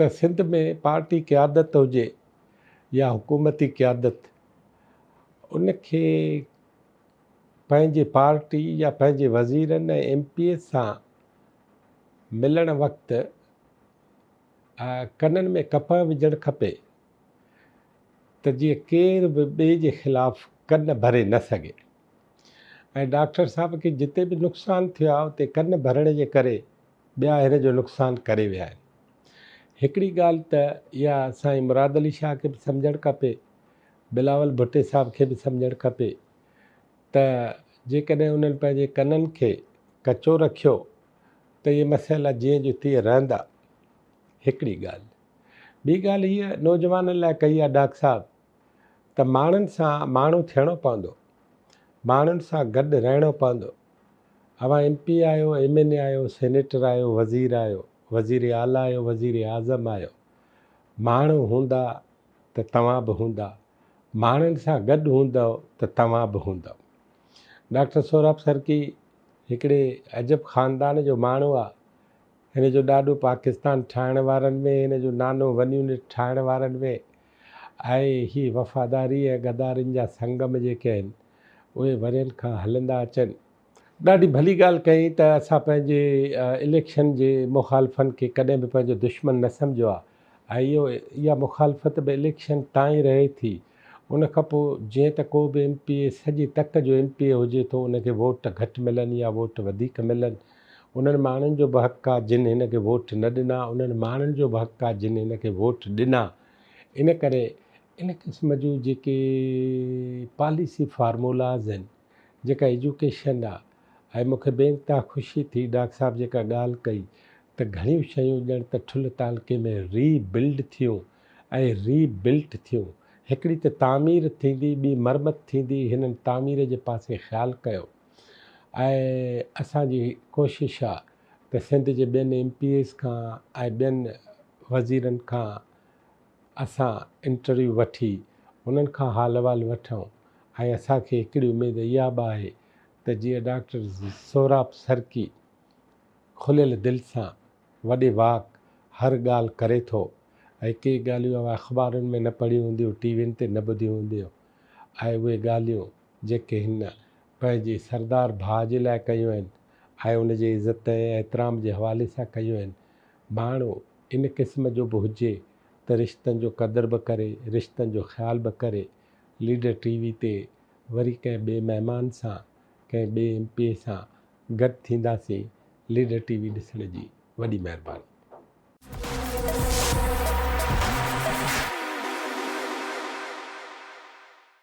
ته سنڌ ۾ پارٽي قيادت هجي يا حڪومتي قيادت ان کي پنهنجي پارٽي يا پنهنجي وزيرن ۽ ايم پي ايز سان ملڻ وقت ڪنن ۾ ڪپهه وجهڻ کپي ته جيئن ڪير به ٻئي جي خلاف ڪن ڀري نه سگهي ۽ ڊاڪٽر صاحب کي جتي به نقصان ٿيو آهي اتي ڪن ڀرڻ جي ڪري ٻيا هير جو نقصان ڪري ويا آهن. هڪڙي ڳالهه ته اها سائين مراد علي شاهه کي به سمجهڻ کپي، بلاول ڀٽي صاحب کي به سمجهڻ کپي ته جيڪڏهن انهن پنهنجي ڪنن کي ڪچو رکيو ته اهي مسئلا جيئن جو تيئن رهندا. هڪڙي ڳالهه. ٻي ڳالهه هيء نوجوانن لاء ڪئي آهي ڊاڪ صاحب ته ماڻهن سان ماڻهو ٿيڻو پوندو، ماڻهن سان گڏ رهڻو پوندو، اوهان ايم پي آهيو، ايم اين اي آهيو، سينيٽر آهيو، وزير آهيو، وزير اعليٰ آهيو، وزير اعظم آهيو، ماڻهو هوندا ته توهان به هوندا، ماڻهن سان گڏ هوندؤ ته توهان به هوندؤ. ڊاڪٽر سهراب سرڪي هڪڙي عجب خاندان جو ماڻهو آ، هن جو ڏاڏو پاڪستان ٺاهڻ وارن ۾، هن جو نانو ونيونٽ ٺاهڻ وارن ۾، آهي هي وفاداري ۽ غدارين جا سنگم جيڪي آهن اهي ورهين کان هلندا اچن. ڏاڍي ڀلي ڳالهه ڪيائين ته اسان پنهنجي اليڪشن جي مخالفن کي ڪڏهن به پنهنجو دشمن نه سمجهيو آهي ۽ اهو اها مخالفت به اليڪشن تائين رهي ٿي ان کان پوء جيئن ته ڪو به ايم پي اي سڄي تڪ جو ايم پي اي هجي ٿو ان کي ووٽ گهٽ ملن يا ووٽ وڌيڪ ملن انهن ماڻهن جو به حق آ جن هن کي ووٽ نه ڏنا انهن ماڻهن جو به حق آ جن هن کي ووٽ ڏنا ان ڪري ان قسم جون جيڪي پاليسي فارمولاز آهن جيڪا ايجوڪيشن آ ۽ مون کي بي انتها خوشي ٿي ڊاڪ صاحب جيڪا ڳالهه ڪئي ته گهڻيون شيون ڄڻ ته ٺل تعلقي ۾ ري بلڊ ٿيون ۽ ري بلٽ ٿيون هڪڙي ته تعمير ٿيندي ٻي مرمت ٿيندي هنن تعمير جي پاسي خيال ڪيو. آهي اسان جي ڪوشش آهي ته سنڌ جي ٻين ايم پي ايز کان ۽ ٻين وزيرن کان اسان انٽرويو وٺي انهن کان حال احوال وٺون ۽ اسان کي هڪڙي اميد اها به آهي ته جيئن ڊاڪٽر سهراب سرڪي کليل دل سان وڏي واڪ هر ڳالهه ڪري ٿو ۽ ڪي ڳالهيون اوهان اخبارن ۾ نه پڙهيون هونديون ٽي وين تي نه ٻڌيون هونديون ۽ اهي ڳالهيون جيڪي هن پنهنجي سردار ڀاء جي لاء ڪيون آهن ۽ ان جي عزت ۽ احترام جي حوالي سان ڪيون آهن. ماڻهو ان قسم جو به هجي ته رشتن جو قدر به ڪري، رشتن جو خيال به ڪري. ليڊر ٽي وي تي وري ڪنهن ٻئي مهمان سان، ڪنهن ٻئي ايم پي اي سان گڏ ٿينداسين. ليڊر ٽي وي ڏسڻ جي وڏي مهرباني.